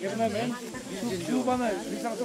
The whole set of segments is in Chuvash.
Ернемен, ну бана, Александр,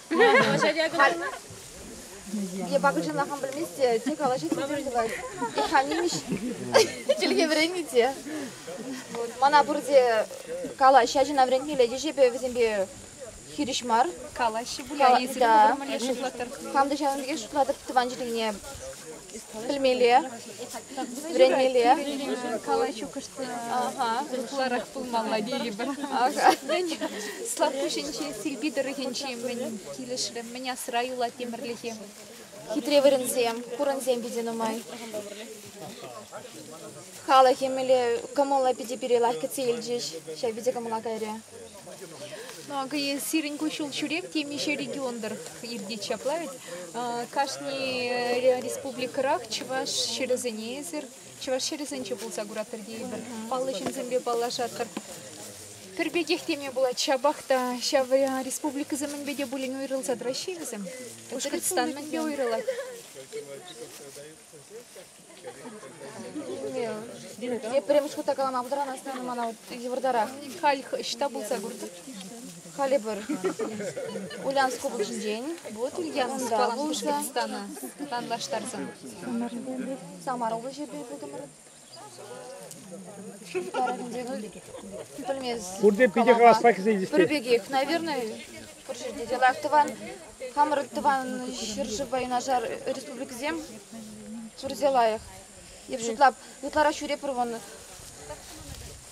Я пока жена хам білместе, те калаҫать, те тывать. Ich kann nicht. Чӗлхе вӗреннӗ Мана пурте калаҫ, ачана вӗрентмелле, тӗшепе вӗсемпе хирӗҫ мар. Калаҫҫӗ пуль, да. Хам та ҫавӑн пекех шутлатӑп, тӑван чӗлхене Пӗлмелле, вӗренмелле. Калаҫу кӑшт ытларах пулмалла тейӗпӗр. Слакпуҫӗнчи Силпи тӑрӑхӗнчи мӗн килӗшрӗ, мӗн асра юлать Тимӗрлӗхе? Хитре вырӑнсем, хурӑнсем питӗ нумай. Халӑх эмеле кӑмӑллӑ питӗ пире лайӑх кӗтсе илчӗҫ. Ҫав питӗ кӑмӑла кайрӗ. Ну, акӑ сирӗн куҫҫуль ҫӳрев темиҫе регион-тӑр иртет ҫапла ведь. Кашни республикӑрах чӑваш ҫӗрӗсенесӗр, чӑваш ҫӗрӗсенче пулса куратӑр тейӗпӗр, паллӑ ҫынсемпе паллашатӑр. Пӗр пекех теме пулать, ҫапах та ҫав республикӑсем мӗнпе те пулин уйрӑлса тӑраҫҫӗ-и вӗсем? Пушкӑртстан мӗнпе уйрӑлать? Тепрем шута калама пултараймасть ӑна мана йывӑртарах. Халь ӑҫта пулса куртӑр? Халӗ пӗр. Ульянск облаҫӗнчен. Вот Ульяновск пулса. Стану танлаштарсан. Самар облаҫӗпе пултӑмӑр. Пурте питӗ хаваспа кӗсен здесь. Пӗр пекех, наверное. Пур ҫӗрте те лайӑх тӑван. Хамӑр тӑван ҫӗршывпа юнашар республикӑсем пурте лайӑх. Эп шутлап, ытларах ҫӳрепӗр вӑн.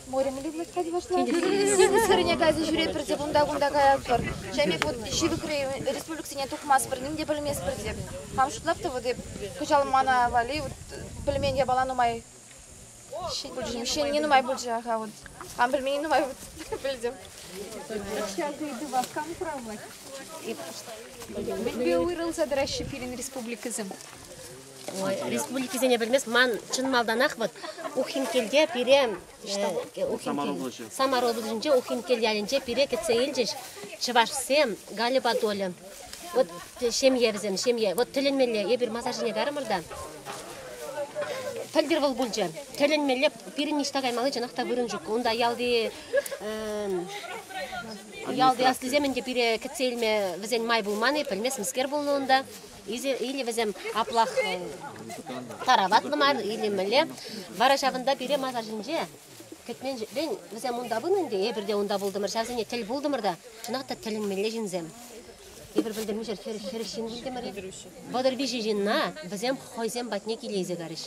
Морем ли влаҫать вашла? Сирӗне кайса ҫӳрепӗр те кунта-кунта каятпӑр. Шемек вот ҫывӑхри республикӑсене тухмастпӑр, ним те пӗлместпӗр теп. Хам шутлап та вот эп кӑҫал мана валли вот пӗлмен япала нумай Ҫын не нумай пулчӗ-ха вот. Там пельмени нумай пӗлтӗм. Ҫак ыйту васкан хуравлать. Мӗнпе уйрӑлса тӑраҫҫӗ пирӗн республикӑсем? республикисене пӗлмес ман чӑн малтанах вот Ухинкелте пире Ухинкел Самароблӑсенче Ухинкел ялӗнче пире кӗтсе илчӗҫ чӑвашсем Галя Батоля Вот ҫемье вӗсем, ҫемье. Вот тӗлӗнмелле, эпир масар ҫине карӑмӑр та. Пӗлтӗр вӑл пулчӗ. Тӗлӗнмелле пирӗн ниҫта каймалли чӑнах та вырӑн ҫук. Унта ялти ялти аслисем ӗнтӗ пире кӗтсе илме вӗсен май пулман-и, пӗлместӗмскер пулнӑ унта. Или вӗсем аплах тараватлӑ мар, или мӗнле. Вара ҫавӑнта пире масар ҫинче Кӗтменшӗн вӗсем унта пынӑ ӗнтӗ, эпир те унта пултӑмӑр, ҫавсене тӗл пултӑмӑр та, чӑнах та тӗлӗнмелле ҫынсем. Эпир пӗлтӗрмишер хӗрӗх ҫын вилтӗмӗр-и? Вӑтӑр виҫӗ ҫынна вӗсем хӑйсем патне килейсе карӗҫ.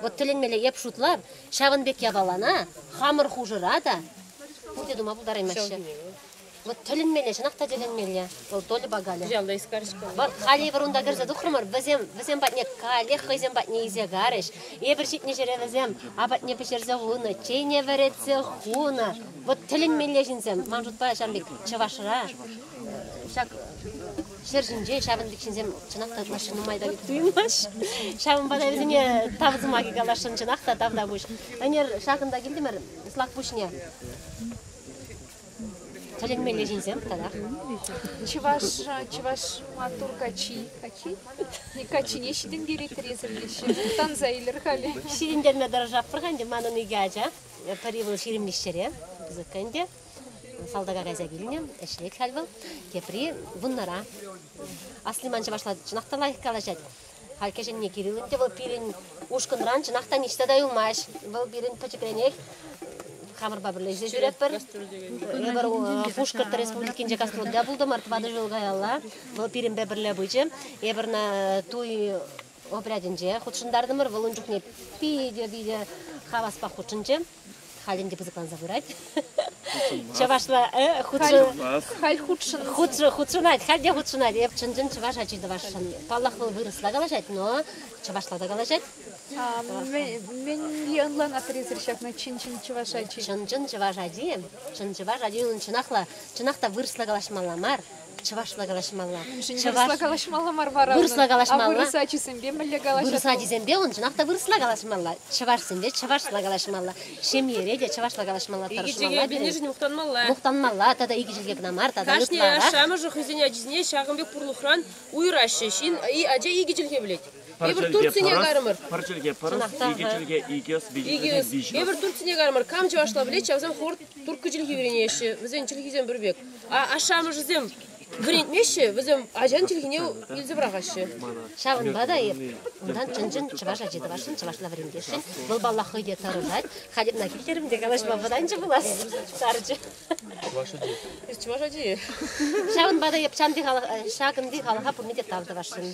Вӑт тӗлӗнмелле эп шутлап, ҫавӑн пек япалана хамӑр хушӑра та пурте тума пултараймаҫҫӗ. Вӑт тӗлӗнмелле, чӑнах та тӗлӗнмелле, вӑл Тольӑпа Галя. Ялта ис кар Вӑл халӗ унта кӗрсе тухрӑмӑр, вӗсем вӗсем патне каллех хӑйсем патне илсе карӗҫ. Эпир ҫитнӗ ҫӗре вӗсем апатне пӗҫерсе хунӑ, чейне вӗретсе хунӑ. Вӑт тӗлӗнмелле ҫынсем. Ман шутпа ҫавӑн пек Чӑвашра ҫак ҫӗр ҫинче ҫавӑн пек ҫынсем чӑнах та ытлашши нумай та туйӑнаҫ. Ҫавӑнпа та вӗсене тав сӑмахӗ каласшӑн чӑнах та тав та пуҫ. Ӗнер ҫакӑнта килтӗмӗр Слакпуҫне. Тӗлӗнмелле ҫынсем тӑрах. Чӑваш, чӑваш маттур качи. Качи? Качине ҫитӗнтерет резӗрлеҫҫӗ. Тӑхтанса илер халӗ. Ҫитӗнтерме тӑрӑшатпӑр-ха ӗнтӗ. Манӑн икӗ ача. Пӗри вӑл ҫирӗммӗш ҫӗре пысӑк ӗнтӗ. Салтака кайса килнӗ, ӗҫлет халь вӑл. Тепри вуннара. Асли ман чӑвашла чӑнах та лайӑх калаҫать. Халь кӗҫӗнни Кириллӑн те вӑл пирӗн ушкӑнран чӑнах та ниҫта та юлмасть. Вӑл пирӗн пӗчӗкренех хамӑрпа пӗрле ӗҫлесе ҫӳретпӗр. Эпӗр Пушкӑрт Республикинче космонавта пултӑмӑр тӑватӑ ҫул каялла. Вӑл пирӗнпе пӗрле пычӗ. Эпӗр туй отрядӗнче хутшӑнтартӑмӑр. Вӑл ун чухне питӗ-питӗ хаваспах хутшӑнчӗ. Халь ӗнтӗ пысӑкланса пырать. Чӑвашла халь хутшӑнать, халь те хутшӑнать. Эп чӑн-чӑн чӑваш ачи тӑвасшӑн. Паллах, вӑл вырӑсла калаҫать, но чӑвашла та калаҫать. Мӗнле ӑнланатӑр ҫакна чӑн-чӑн чӑваш ачи? Чӑн-чӑн чӑваш ачи, чӑн чӑваш ачи унӑн чӑнах та, чӑнах та вырӑсла калаҫмалла мар. Чӑвашла калаҫмалла. Чӑвашла калаҫмалла мар вара. Вырӑсла калаҫмалла. А вырӑс ачисемпе мӗнле калаҫатӑр? Вырӑс ачисемпе уншӑнах та вырӑсла калаҫмалла. Чӑвашсемпе чӑвашла калаҫмалла. Ҫемьере те чӑвашла калаҫмалла, тӑрӑшмалла. Икӗ чӗлхене мухтанмалла. Мухтанмалла тата икӗ чӗлхе кӑна мар тата кашни ашшӗ-амӑшӗ хӑйсен ачисене ҫакӑн пек пурлӑхран уйӑраҫҫӗ. Ҫын ача икӗ чӗлхе пӗлет. Эпир Турцине карӑмӑр. Пӗр чӗлхе пӑрӑс, икӗ чӗлхе икӗ ӑс, виҫӗ ӑс. Эпир Турцине карӑмӑр. Кам чӑвашла пӗлет, ҫавсем хӑвӑр турккӑ чӗлхи вӗренеҫҫӗ. Вӗсен чӗлхисем пӗр пек. Ашшӗ-амӑшӗсем вӗрентмеҫҫӗ, вӗсем ачан чӗлхине илсе пӑрахаҫҫӗ. Ҫавӑнпа та эпир унтан чӑн-чӑн чӑваш ачи тӑвасшӑн, чӑвашла вӗрентесшӗн. Вӑл, паллах, хӑй те тӑрӑшать. Хатӗрна килтерӗм те калаҫма вӑтанчӗ пулас, сарчӗ. Чӑваш ачи. Чӑваш ачи. Ҫавӑнпа та эп ҫакӑнти халӑха пурне те тав тӑвасшӑн.